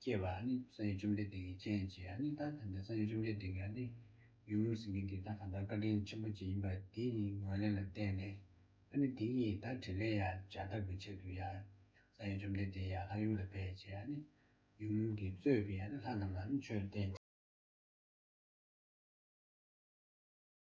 སྐྱེ་བ་ནི་སངས་རྒྱས་བཅོམ་ལྡན་འདས་ཀྱི་སྤྱན་གྱིས་ཨ་ནི་ད་ཐེངས་པའི་སངས་རྒྱས་བཅོམ་ལྡན་འདས་ཀྱི་ཨ་ནི་ཡུམ་ལུས་སེམས་ཀྱི་འདི་དག་གང་ལྟར་བཀའ་དྲིན་ཆེན་པོ་ཅན་ཡིན་པ་འདི་ནི་ངོས་ལེན་ལ་བརྟེན་ནས་ཨ་ནི་འདི་ཉིད་ད་དྲིན་ལན་ཡང་སྦྱར་ཐབས་ཀྱི་ཆེད་དུ་ཡང་སངས་རྒྱས་བཅོམ་ལྡན་འདས་ཡང་ལྷ་ཡུམ་ལ་ཕེབས་ཀྱིས་ཨ་ནི་ཡུམ་གྱིས་གཙོས་པའི་ཨ་ནི་ལྷ་རྣམས་ལ་ནི་ཆོས་བསྟན།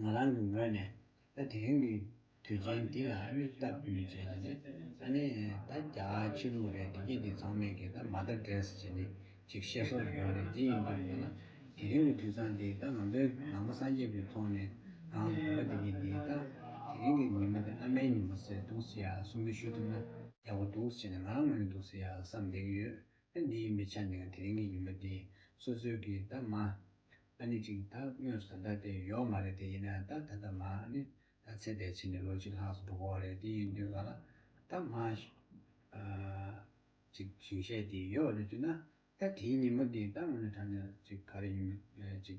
ང་རང་གི་ངོས་ནས་ད་དེ་རིང་གི་དུས་ཆེན་འདི་ལ་མིག་ལྟ་བུའི་རྗེས་ལ་ནི་ད་ནི་ད་བརྒྱ་ཕྱི་ལོ་རེ་འདི་སྐད་དེ་ཚང་མས་ཀྱིས་ད་མ་ད་འདྲེས་ཅེས་ནི་ཅིག་བཤད་སྲོལ་ཡོད་རེད་དེ་ཡིན་དུས་ཡིན་ན་དེ་རིང་གི་དུས་ཚང་འདི་ད་ང་ཚོའི་ནང་པ་སངས་རྒྱས་པའི་ཐོག་ནས་རང་དགོན་པ་འདི་གི་འདི་ད་དེ་རིང་གི་ཉིན་མོ་འདི་ཨ་མའི་ཉིན་མོ་ཟེར་འདུག་ཟེར་ཡ་གསུང་གི་ཞུ་ཐུབ་ན་ཡག་པོ་འདུག་ཟེར་ནས་ང་རང་ངོས་ནས་འདུག་ཟེར་ཡ་བསམ་བསྡད་ཀྱི་ཡོད་ཨ་ནི་མི་ཆ་ནས་དེ་རིང་གི་ཉི་མ་འདི་སོ་སོའི་གི་ད་མ་ཨ་ནི་ཅིག་ད་དངོས་སུ་ད་ལྟ་དེ་ཡོག་མ་རེད་དེ་ཡིན་ན་ད་ད་ད་མ་ཨ་ནི་ད་ཚེ་འདས་ཕྱི་ནས་ལོ་གཅིག་ལྷག་སོ་འགྲོ་གོ་རེད་དེ་ཡིན་དུས་ག་ལ་ད་མ་ཨ་ཅིག་ཞིང་བཤད་དེ་ཡོག་རེད་དུས་ན་ད་དེའི་ཉི་མ་འདི་ད་དངོས་ནས་ད་ནས་ཅིག་ག་རེ་ཡིན་ཨ་ཅིག་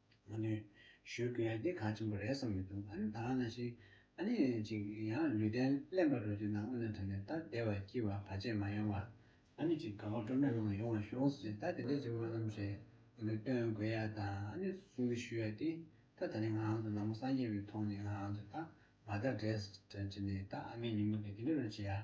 མ་ནུས། ཞུ་དགོས་ཡ་འདི་གང་ཆེན་པོ་རེད་བསམ་གྱི་འདུག་ཨ་ནི་དྭངས་ན་ཞིག་ཨ་ནི་ཅིག་ཡང་ལུས་རྟེན་གླེན་པ་རོ་གཅིག་ན་དབུ་སྣ་དྲངས་ནས་ད་བདེ་བར་སྐྱིད་བར་བར་ཆད་མ་ཡོང་བར་ཨ་ནི་ཅིག་དགའ་བ་སྤྲོ་མེད་ངང་ཡོང་བར་ཤོག་ཟེར་ད་དེ་འདྲའི་ཅིག་སྨོན་ལམ་རེ་ངས་སྟོན་དགོས་ཡ་ད་ཨ་ནི་སུ་གསུང་གི་ཞུ་ཡ་འདི་ད་ད་ནི་ངའང་དུ་ནག་མོ་སངས་རྒྱས་པའི་མཐོང་ནས་ངའང་དུ་ད་མ་ད་བྲེལ་བྲེལ་ནས་ད་ཨ་མའི་ཉིན་མོ་འདི་འདི་འདྲ་རུ་བྱེད་ཡ།